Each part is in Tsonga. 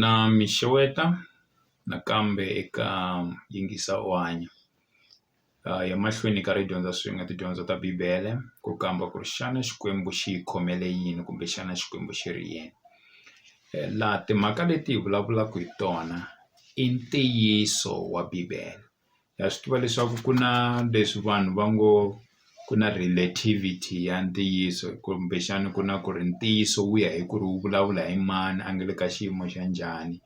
Na mi xeweta nakambe eka yingisa u hanya ya mahlweni ka ri dyondza swin'we tidyondzo ta bibele ku kamba ku ri xana Xikwembu xi hi khomele yini kumbe xana Xikwembu xi ri yini laha timhaka leti hi vulavulaka hi tona i ntiyiso wa bibele. ha swi tiva leswaku ku na leswi vanhu va ngo ku na relativity ya ntiyiso kumbexana ku na ku ri ntiyiso wu ya hi ku ri wu vulavula hi mani a nga le ka xiyimo xa njhani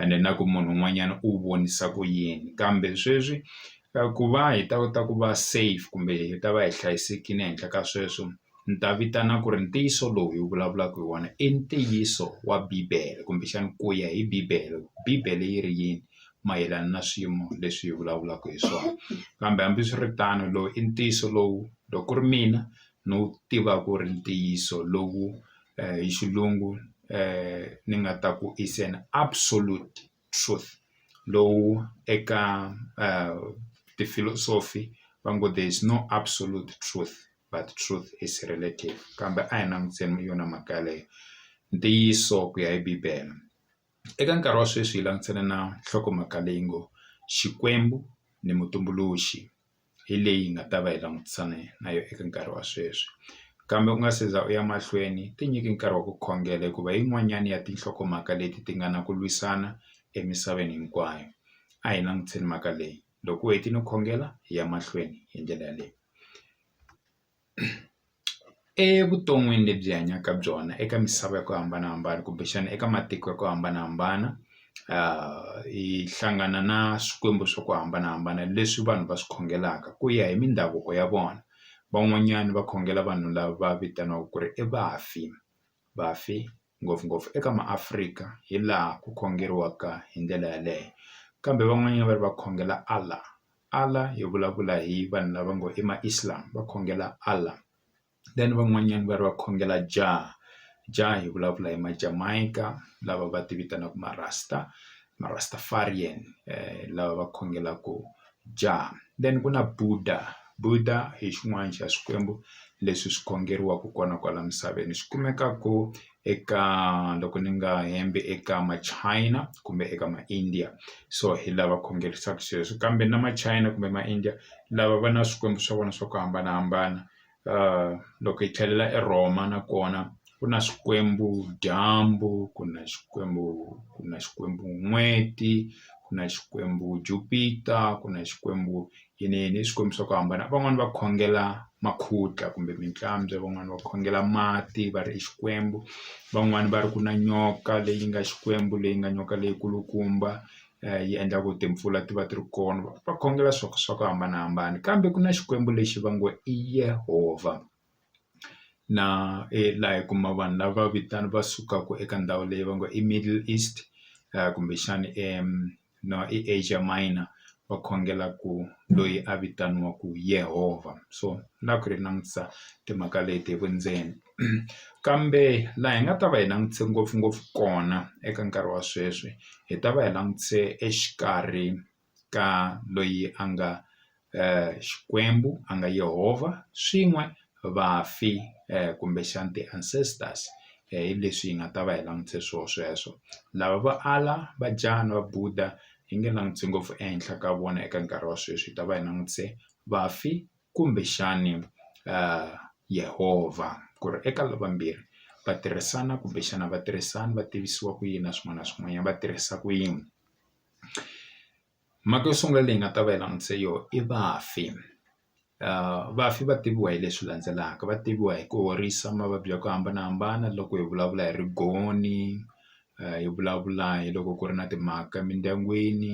ene na ku munhu un'wanyana u vonisa ku yini kambe sweswi ku va hi ta kota ku va safe kumbe hi ta va hi hlayisekile ehenhla ka sweswo ni ta vitana ku ri ntiyiso lowu hi vulavulaka hi wona i ntiyiso wa bibele kumbexana ku ya hi bibele bibele yi ri yini. mayelana na swiyimo leswi hi vulavulaka hi swona kambe hambiswiritano lowu i ntiyiso lowu loko ku ri mina ni wu tivaka ku ri ntiyiso lowu hi xilungu ni nga ta ku is an absolute truth lowu eka ti-philosophy va ngo there is no absolute truth but truth is relative kambe a hi languteni yona mhaka yaleyo ntiyiso ku ya hi bibele. Eka nkarhi wa sweswi hi langutane na nhlokomhaka leyi ngo Xikwembu ni mutumbuluxi hi leyi hi nga ta va hi langutisane na yona eka nkarhi wa sweswi kambe u nga se za u ya mahlweni tinyike nkarhi wa ku khongela hikuva yin'wanyana ya tinhlokomhaka leti ti nga na ku lwisana emisaveni hinkwayo a hi langutise mhaka leyi loko u hetile khongela hi ya mahlweni hi ndlela yaleyo. Evuton'wini lebyi hi hanyaka ka byona eka misava ya ku hambanahambana kumbexana eka matiko ya ku hambanahambana hi hlangana na swikwembu swa ku hambanahambana leswi vanhu va swi khongelaka ku ya hi mindhavuko ya vona van'wanyana va khongela vanhu lava vitaniwaka ku ri i vafi vafi. ngopfungopfu eka maAfrika hi laha ku khongeriwaka hi ndlela yaleyo kambe van'wanyana va ri va khongela Allah Allah hi vulavula hi vanhu lava ngo i ma Islam va khongela Allah then van'wanyana va ri va khongela Jah Jah hi vulavula hi ma Jamaica lava va ti vitanaka marasta ma Rastafarian lava va khongelaka Jah then ku na Buddha, Buddha hi xin'wana xa swikwembu leswi swi khongeriwaka kona kwala misaveni swi kumekaka eka loko ni nga hembi eka ma China kumbe eka ma India so hi lava sweswo kambe na ma China kumbe ma India lava va na swikwembu swa vona swa ku hambanahambana. loko hi tlhelela eRhoma nakona ku na Xikwembu dyambu ku na Xikwembu ku na Xikwembu n'weti ku na Xikwembu Jupiter ku na Xikwembu yini yini i swikwembu swa ku hambana van'wani va khongela makhutla kumbe mintlambya van'wani va khongela mati va ri i Xikwembu van'wani va ri ku na nyoka leyi nga Xikwembu leyi nga nyoka leyi kulukumba yi endla ku timpfula ti va ti ri kona va khongela swa ku swa ku hambanahambana kambe ku na xikwembu lexi va ngo i Yehovha na laha hi kuma vanhu lava vitana va sukaka eka ndhawu leyi va ngo i middle east kumbexana no i Asia miner va khongela ku loyi a vitaniwaka Yehovha so na ku ri langutisa timhaka leti hi vundzeni. kambe laha hi nga ta va hi langutise ngopfungopfu kona eka nkarhi wa sweswi hi ta va hi langutise exikarhi ka loyi a nga Xikwembu a nga Yehovha swin'we vafi kumbexana ti ancestors hi leswi hi nga ta va hi langutise swona sweswo lava vo ala va jahha na va Budha hi nge langutisi ngopfu ehenhla ka vona eka nkarhi wa sweswi hi ta va hi langutise vafi. kumbexani Yehovha ku ri eka lava vambirhi va tirhisana kumbexana a va tirhisani va tivisiwa ku yini na swin'wana na swin'wanyana va tirhisa ku yini mhaka yo sungula leyi nga ta va yi langutise yoho i vafi vafi va tiviwa hi leswi landzelaka va tiviwa hi ku horisa mavabyi ya ku hambanahambana loko hi vulavula hi rigoni. hi vulavula hi loko ku ri na timhaka emindyangwini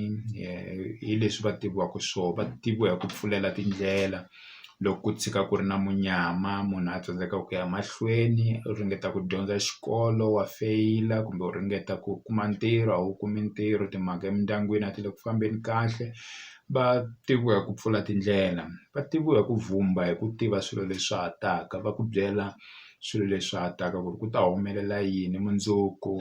hi leswi va tiviwaka swona va tiviwa hi ku pfulela tindlela loko ku tshika ku ri na munyama munhu a tsandzeka ku ya mahlweni u ringeta ku dyondza xikolo wa feyila kumbe u ringeta ku kuma ntirho a wu kumi ntirho timhaka emindyangwini a ti le ku fambeni kahle va tiviwa hi ku pfula tindlela va tiviwa hi ku vhumba hi ku tiva swilo leswi swa ha taka va ku byela. swilo leswi ha taka ku ri ku ta humelela yini mundzuku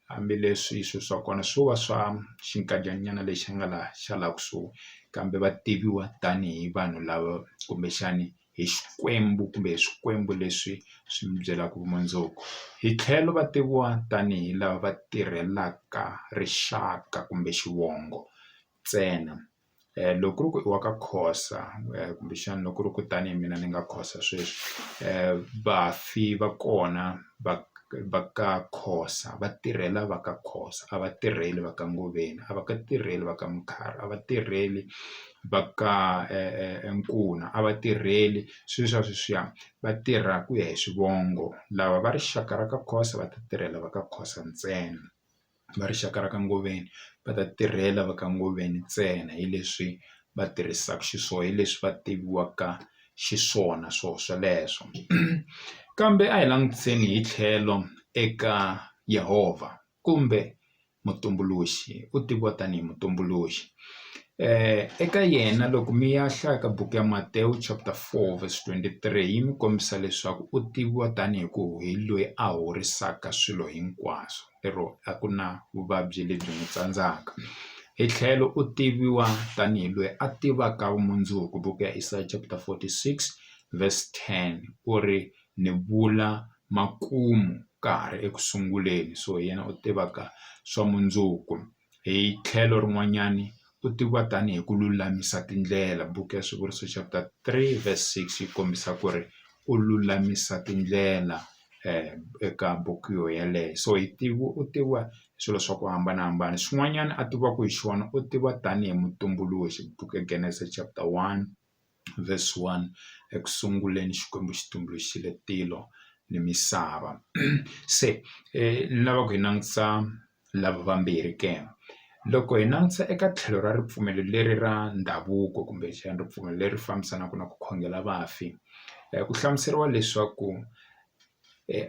hambileswi swi swa kona swo va swa xinkadyana nyana lexi nga laha xa laha kusuhi kambe va tiviwa tanihi vanhu lava kumbexani hi Xikwembu kumbe hi swikwembu leswi swi mi byelaka vumundzuku hi tlhelo va tiviwa tanihi lava va tirhelaka rixaka kumbe xivongo ntsena. loko ku ri ku i wa ka Khosa kumbexana loko ku ri ku tanihi mina ni nga Khosa sweswi vafi va kona va va ka Khosa va tirhela va ka Khosa a va tirheli va ka Ngoveni a va ka tirheli va ka Mkhari a va tirheli va ka Nkuna a va tirheli swilo swa sweswiya va tirha ku ya hi swivongo lava va rixaka ra ka Khosa va ta tirhela va ka Khosa ntsena. va rixaka ra ka Ngoveni va ta tirhela va ka Ngoveni ntsena hi leswi va tirhisaka xiswona hi leswi va tiviwaka xiswona swo sweleswo kambe a hi languteni hi tlhelo eka Yehovha kumbe mutumbuluxi u tiviwa tanihi mutumbuluxi eka yena loko mi ya hlaya ka buku ya Matewu chapter four verse twenty three yi mi kombisa leswaku u tiviwa tanihi ku hi loyi a horisaka swilo hinkwaswo. lero a ku na vuvabyi lebyi n'wi tsandzaka hi tlhelo u tiviwa tanihi loyi a tivaka vumundzuku buku ya Isaya chapter 46 verse 10 ku ri ni vula makumu ka ha ri eku sunguleni so hi yena u tivaka swa mundzuku. hi tlhelo rin'wanyani u tiviwa tanihi ku lulamisa tindlela buku ya swivuriso chapter three verse six yi kombisa ku ri u lulamisa tindlela eka buku yo yeleyo so hi tivi u tiviwa hi swilo swa ku hambanahambana xin'wanyana a tiviwaka hi xona u tiviwa tanihi mutumbuluxi buku ya Genesis chapter one. verse 1 eku sunguleni Xikwembu xi tumbuluxile tilo ni misava se ni lava ku hi langutisa lava vambirhi ke loko hi langutisa eka tlhelo ra ripfumelo leri ra ndhavuko kumbe xana ripfumelo leri fambisanaka na ku khongela vafi ku hlamuseriwa leswaku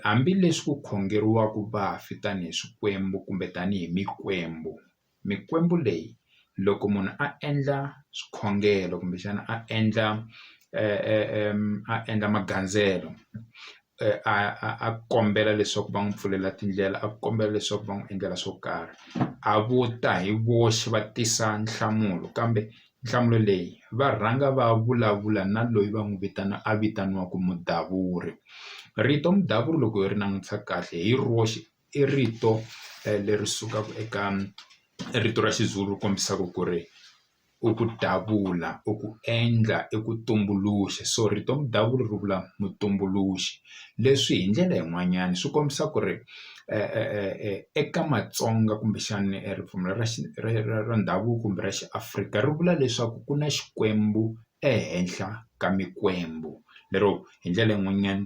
hambileswi ku khongeriwaka vafi tanihi swikwembu kumbe tanihi mikwembu. mikwembu leyi loko munhu a endla swikhongelo kumbexana a endla a endla magandzelo a a a kombela leswaku va n'wi pfulela tindlela a kombela leswaku va n'wi endlela swo karhi a vo ta hi voxe va tisa nhlamulo kambe nhlamulo leyi va rhanga va vulavula na loyi va n'wi vitana a vitaniwaka mudavuri rito mudavuri loko hi ri langutisa kahle hi roxe. i rito leri sukaka eka rito ra Xizulu ri kombisaka ku ri i ku davula i ku endla i ku tumbuluxa so rito mudavula ri vula mutumbuluxi leswi hi ndlela yin'wanyana swi kombisa ku ri eka Matsonga kumbexana ripfumelo ra ra ra ndhavuko kumbe ra xiAfrika ri vula leswaku ku na Xikwembu ehenhla ka mikwembu lero hi ndlela yin'wanyana.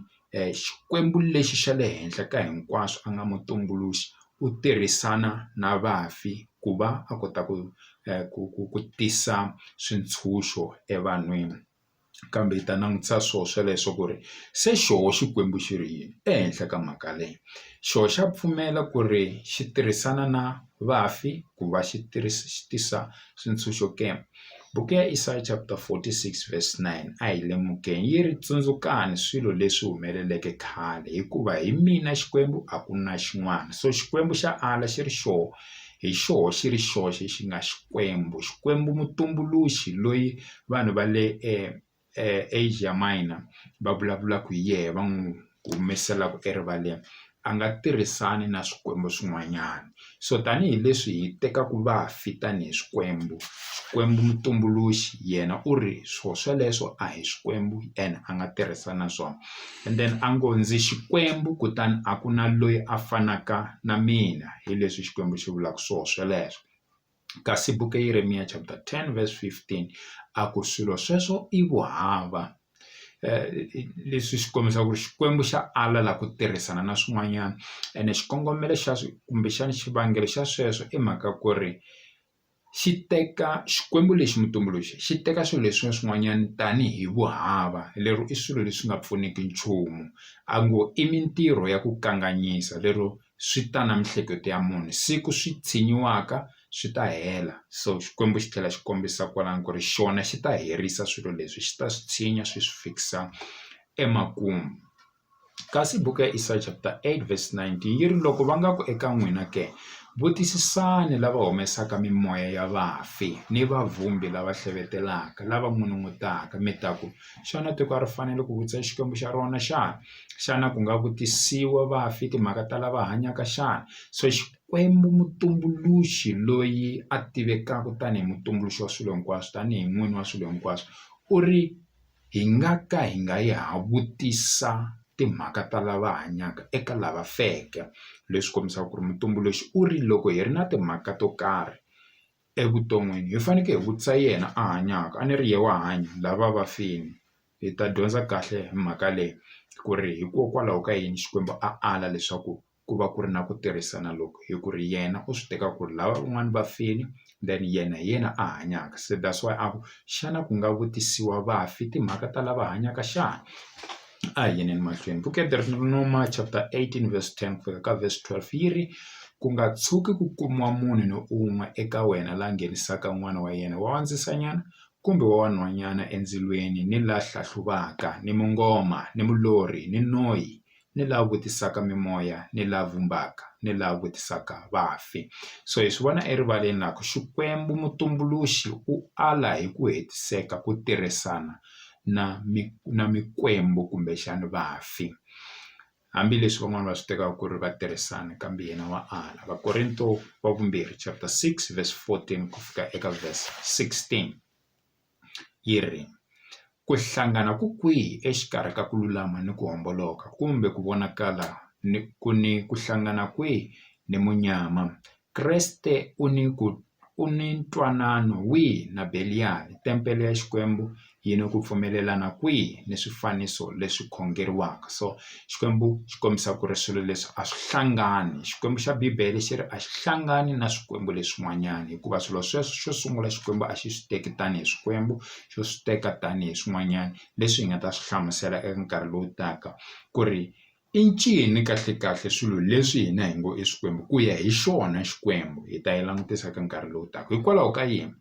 Xikwembu lexi xa le henhla ka hinkwaswo a nga mutumbuluxi u tirhisana na vafi ku va a kota ku ku ku ku tisa swintshuxo evanhwini kambe hi ta langutisa swona sweleswo ku ri se xoho Xikwembu xi ri yini ehenhla ka mhaka leyi xoho xa pfumela ku ri xi tirhisana na vafi ku va xi tisa swintshuxo ke? Buku ya Isaya chapter 46 verse 9 a hi lemukeni yi ri, Tsundzukani swilo leswi humeleleke khale, hikuva hi mina Xikwembu a ku na xin'wana. So Xikwembu xa ala xi ri xoho hi xoho xi ri xoxe xi nga Xikwembu, Xikwembu mutumbuluxi loyi vanhu va le Asia Minor va vulavulaka hi yena va n'wi humeselaku erivaleni a nga tirhisani na swikwembu swin'wanyana so tanihileswi hi tekaku vafi tanihi swikwembu Xikwembu mutumbuluxi yena u ri swo sweleswo a hi swikwembu and a nga tirhisani na swona and then a ngo ndzi Xikwembu kutani a ku na loyi a fanaka na mina hi leswi Xikwembu xi vulaka swo sweleswo. Kasi buku ya Yeremiya chapter 10 verse 15 a ku swilo sweswo i vuhava leswi swi kombisa ku ri Xikwembu xa ala la ku tirhisana na swin'wanyana ene xikongomelo xa kumbexana xivangelo xa sweswo i mhaka ku ri xi teka Xikwembu lexi mutumbuluxi xi teka swilo leswi swin'wanyana tanihi vuhava lero i swilo leswi nga pfuniki nchumu a ngo i mintirho ya ku kanganyisa lero swi ta na miehleketo ya munhu siku swi tshinyiwaka swi ta hela so Xikwembu xi tlhela xi kombisa kwalano ku ri xona xi ta herisa swilo leswi xi ta swi tshinya swi swi fikisa emakumu kasi buku ya Isaya chapter eight verse nineteen yi ri loko va nga ku eka n'wina ke vutisisani lava humesaka mimoya ya vafi ni vavumbi lava hlevetelaka lava n'unun'utaka mi ta ku xana tiko a ri fanele ku vutisa Xikwembu xa rona xana. xana ku nga vutisiwa vafi timhaka ta lava hanyaka xana so Xikwembu mutumbuluxi loyi a tivekaka tanihi mutumbuluxi wa swilo hinkwaswo tanihi n'wini wa swilo hinkwaswo u ri hi nga ka hi nga yi ha vutisa timhaka ta lava hanyaka eka lava feke leswi kombisaka ku ri mutumbuluxi u ri loko hi ri na timhaka to karhi evuton'wini hi fanekele hi vutisa yena a hanyaka a ni ri yena wa hanya lava vafini. hi ta dyondza kahle hi mhaka leyi ku ri hikokwalaho ka yini Xikwembu a ala leswaku ku va ku ri na ku tirhisana loko hi ku ri yena u swi teka ku ri lava van'wani va fini then yena hi yena a hanyaka se that's why a ku xana ku nga vutisiwa vafi timhaka ta lava hanyaka xana a hi yeni emahlweni book ya chapter eighteen verse ten ku fika ka verse twelve yi ri ku nga tshuki ku kumiwa munhu ni un'we eka wena la nghenisaka n'wana wa yena wa wa ndzisanyana kumbe wa vanhwanyana endzilweni ni la hlahluvaka ni mungoma ni mulorhi ni noyi ni la vutisaka mimoya ni la vumbaka ni la vutisaka vafi so hi swi vona erivaleni la ku Xikwembu mutumbuluxi u ala hi ku hetiseka ku tirhisana na na mikwembu kumbexani vafi. hambileswi van'wani va swi tekaka ku ri va tirhisana kambe yena wa ala Vakorinto wa vumbirhi chapter six verse fourteen ku fika eka verse sixteen yi ri ku hlangana ku kwihi exikarhi ka ku lulama ni ku homboloka kumbe ku vonakala ni ku ni ku hlangana kwihi ni munyama Kreste u ni ku u ni ntwanano wihi na Beliyali, tempele ya Xikwembu yi ni ku pfumelelana kwihi ni swifaniso leswi khongeriwaka? So, Xikwembu xi kombisa ku ri swilo leswi a swi hlangani. Xikwembu xa Bibele xi ri a xi hlangani na swikwembu leswin'wanyana, hikuva swilo sweswo xo sungula Xikwembu a xi swi teki tanihi Xikwembu, xo swi teka tanihi swin'wanyana leswi hi nga ta swi hlamusela eka nkarhi lowu taka ku ri I ncini kahle-kahle swilo leswi hina hi ngo i swikwembu? Ku ya hi xona Xikwembu hi ta yi langutisa eka nkarhi lowu taka. Hikwalaho ka yini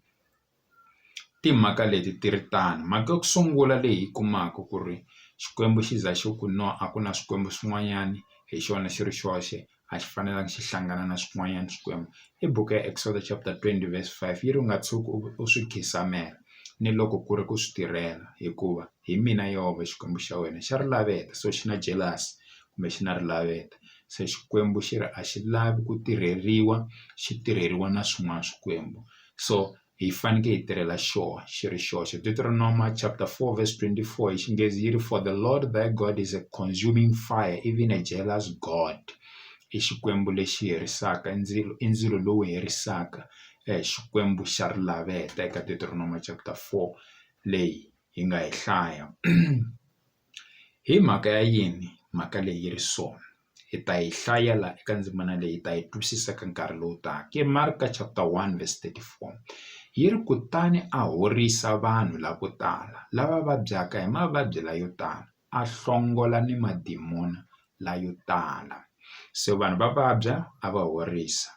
timhaka leti ti ri tano? Mhaka ya ku sungula leyi hi yi kumaka ku ri Xikwembu xi za xi ku no a ku na swikwembu swin'wanyana, hi xona xi ri xoxe. a xi fanelanga xi hlangana na swin'wanyana swikwembu i buku ya Exsodus chapter twenty verse five yi ri u nga tshuki u swi khisamela ni loko ku ri ku swi tirhela hikuva hi mina Yehovha Xikwembu xa wena xa ri laveta so xi na jealous kumbe xi na ri laveta se Xikwembu xi ri a xi lavi ku tirheriwa xi tirheriwa na swin'wana swikwembu so hi fanekele hi tirhela xona xi ri xoxe Deuteronomy chapter 4 verse 24 hi xinghezi yi ri for the lord thy god is a consuming fire even a jealous god i xikwembu lexi herisaka i ndzilo i ndzilo lowu herisaka eh, xikwembu xa rilaveta eka Deuteronomy chapter 4 leyi hi nga yi hlaya hi mhaka ya yini mhaka leyi yi ri sona hi ta yi hlaya la eka ndzimana leyi hi ta yi twisisa ka nkarhi lowu taka i Marka chapter one verse thirty four yi ri kutani a horisa vanhu lavo tala lava vabyaka hi mavabyi layo tala a hlongola ni madimoni layo tala se vanhu va vabya a va horisa.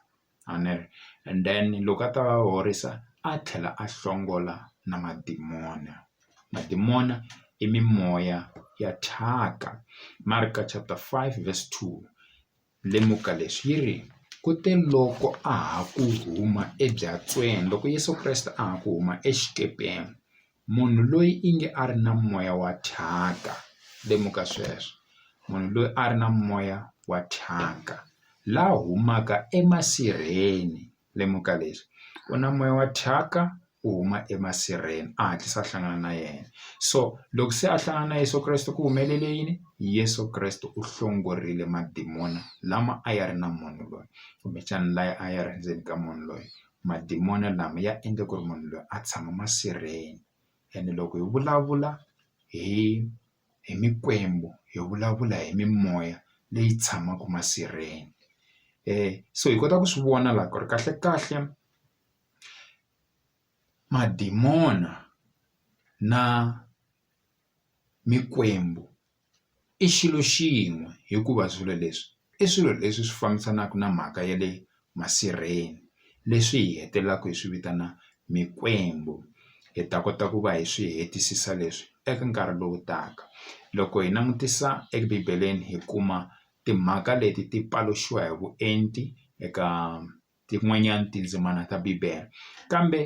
Amen and then loko a ta va horisa a tlhela a hlongola na madimona madimona i mimoya ya thyaka Mark chapter five verse two lemuka leswi yi ri ku te loko a ha ku huma ebyatsweni loko Yeso Kreste a ha ku huma exikepeni. Munhu loyi i nge a ri na moya wa thyaka. Lemuka sweswo. Munhu loyi a ri na moya wa thyaka, la humaka emasirheni. Lemuka leswi. U na moya wa thyaka, u huma emasirheni. A hatlisa a hlangana na yena. So loko se a hlangana na Yeso Kreste ku humelele yini? Yeso Kreste u hlongorile madimoni lama a ya ri na munhu loyi, kumbexana lawa a ya ri endzeni ka munhu loyi. madimoni lama ya endle ku ri munhu loyi a tshama masirheni ene loko hi vulavula hi hi mikwembu hi vulavula hi mimoya leyi tshamaka masirheni so hi kota ku swi vona la ku ri kahle kahle madimona na mikwembu. i xilo xin'we hikuva swilo leswi i swilo leswi swi fambisanaka na mhaka ya le masirheni leswi hi hetelelaka hi swi vitana mikwembu hi ta kota ku va hi swi hetisisa leswi eka nkarhi lowu taka loko hi langutisa ebibeleni hi kuma timhaka leti ti paluxiwa hi vuenti eka. tin'wanyana tindzimana ta Bibele. Kambe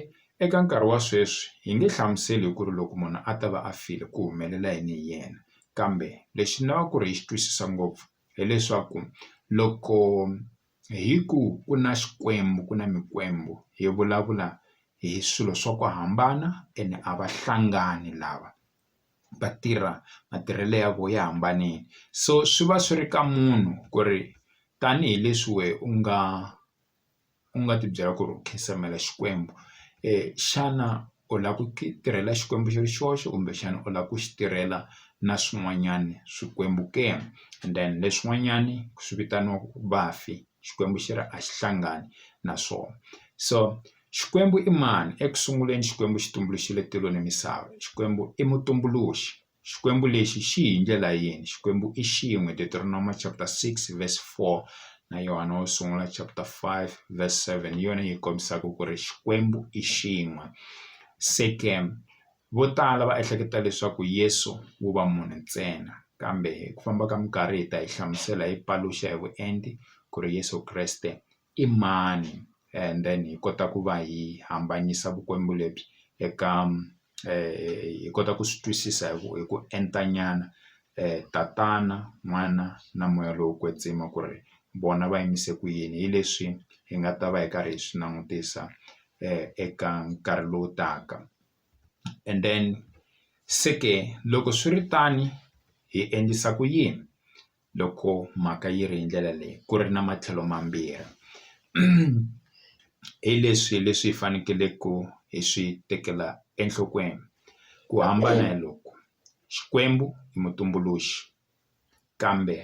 eka nkarhi wa sweswi, hi nge hlamuseli hi ku ri loko munhu a ta va a file ku humelela yini hi yena. Kambe lexi ni lavaka ku ri hi xi twisisa ngopfu hileswaku loko hi ku ku na Xikwembu ku na mikwembu hi vulavula hi swilo swa ku hambana ene a va hlangani lava. va tirha matirhelo ya vona ya hambanile so swi va swi ri ka munhu ku ri tanihileswi wehe u nga u nga tibyela ku ri u nkhinsamela Xikwembu xana u lava ku tirhela Xikwembu xi ri xoxe kumbexana u lava ku xi tirhela na swin'wanyana swikwembu ke and then leswin'wanyani swi vitaniwaku vafi Xikwembu xi ri a xi hlangani na swona so. Xikwembu i mani? Eku sunguleni Xikwembu xi tumbuluxile tilo ni misava. Xikwembu i Mutumbuluxi. Xikwembu lexi xi hi ndlela yini? Xikwembu i xin'we, Deuteronomo chapter 6 verse 4 na Yohana wo sungula chapter 5 verse 7 hi yona yi kombisaka ku ri Xikwembu i xin'we. Se ke vo tala va ehleketa leswaku Yesu wu va munhu ntsena, kambe hi ku famba ka minkarhi hi ta yi hlamusela hi paluxa hi vuenti ku ri Yesu Kreste i mani and then hi kota ku va hi hambanyisa vukwembu lebyi eka hi kota ku swi twisisa hi ku hi ku enta nyana tatana n'wana na moya lowo kwetsima ku ri vona va yimise ku yini hi leswi hi nga ta va hi karhi hi swi langutisa eka nkarhi lowu taka and then se ke loko swiritano hi endlisa ku yini. loko mhaka yi ri hi ndlela leyi ku ri na matlhelo mambirhi hi leswi leswi hi faneleke hi swi tekela enhlokweni ku hambana hi loko Xikwembu i mutumbuluxi kambe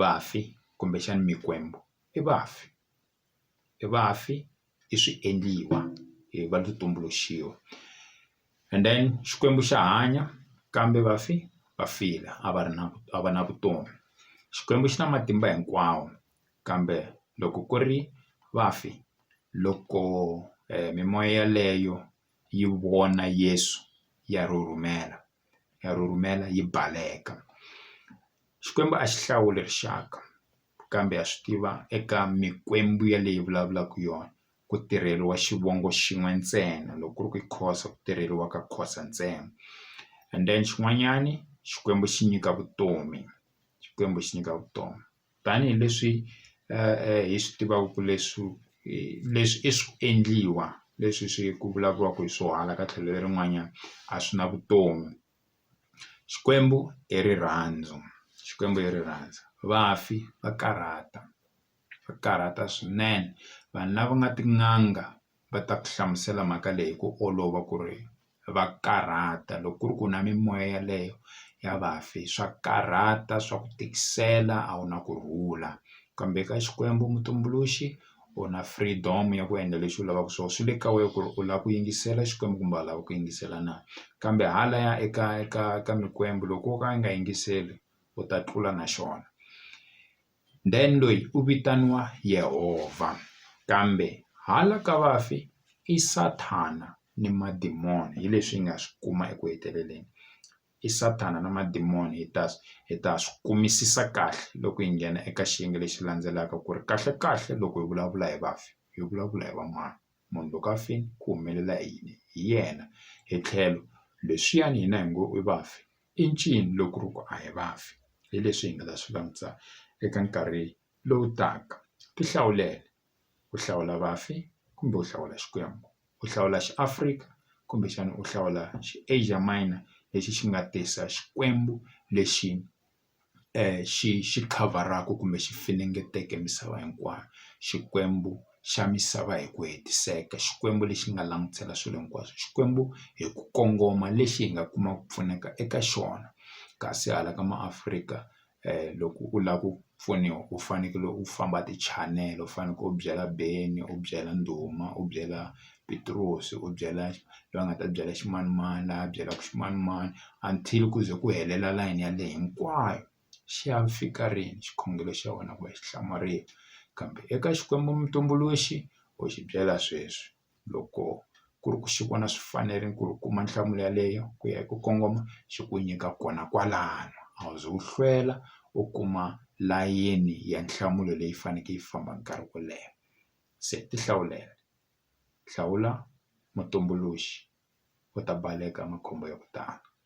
vafi kumbexana mikwembu i vafi. i vafi i swi endliwa hi va ti tumbuluxiwa and then Xikwembu xa hanya kambe vafi va file a va ri na a va na vutomi Xikwembu xi na matimba hinkwawo kambe loko ku ri vafi loko mimoya yeleyo yi vona Yesu ya rhurhumela ya rhurhumela yi baleka Xikwembu a xi hlawuli rixaka. kambe ha swi tiva eka mikwembu yaleyi vulavulaka yona ku tirheliwa xivongo xin'we ntsena loko ku ri ku i Khoza ku tirheliwa ka Khoza ntsena and then xin'wanyani Xikwembu xi nyika vutomi Xikwembu xi nyika vutomi tanihileswi hi swi tivaka leswi leswi i swi endliwa leswi swi ku vulavuriwaka hi swo hala ka tlhelo lerin'wanyana a swi na vutomi. Xikwembu i rirhandzu Xikwembu i rirhandzu vafi va karhata va karhata swinene vanhu lava nga tin'anga va ta ku hlamusela mhaka leyi hi ku olova ku ri va karhata loko ku ri ku na mimoya yeleyo ya vafi swa karhata swa ku tikisela a wu na ku rhula kambe ka Xikwembu mutumbuluxi. u na freedom ya ku endla leswi u lavaka swona swi le ka wena ku ri u lava ku yingisela Xikwembu kumbe a lava ku yingisela na kambe halaya eka eka ka mikwembu loko wo ka u nga yingiseli u ta tlula na xona then loyi u vitaniwa Yehovha kambe hala ka vafi i Sathana ni madimoni hi leswi hi nga swi kuma eku heteleleni i Sathana na madimoni hi ta hi ta swi kumisisa kahle loko hi nghena eka xiyenge lexi landzelaka ku ri kahle kahle loko hi vulavula hi vafi hi vulavula hi va mani munhu loko a fini ku humelela hi yini hi yena hi tlhelo leswiyani hina hi ngo i vafi i ncini loko ri ku a hi vafi hi leswi hi nga ta swi langutisa eka nkarhi lowu taka ti hlawulele. u hlawula vafi kumbe u hlawula Xikwembu u hlawula xi Afrika kumbexana u hlawula xi Asia Minor lexi xi nga tisa Xikwembu lexi xi xi khavharaka kumbe xi funengeteka misava hinkwayo Xikwembu xa misava hi ku hetiseka Xikwembu lexi nga langutela swilo hinkwaswo Xikwembu hi ku kongoma lexi hi nga kuma ku pfuneka eka xona kasi hala ka maAfrika loko u lava ku pfuniwa u fanekele u famba tichanele u fanekele u byela beni u byela ndhuma u byela pitirosi u byela loyi a nga ta byela ximanimani a byelaka ximanimani until ku ze ku helela layeni ya leyi hinkwayo xi ya fika rini xikhongelo xa wena ku ya xi hlamarile kambe eka Xikwembu mutumbuluxi u xi byela sweswi. loko ku ri ku xi vona swi fanerile ku ri u kuma nhlamulo yaleyo ku ya hi ku kongoma xi ku nyika kona kwalano a wu ze u hlwela u kuma layeni ya nhlamulo leyi faneke yi famba nkarhi wo leha se ti hlawulela hlawula mutumbuluxi u ta baleka makhombo ya ku tala.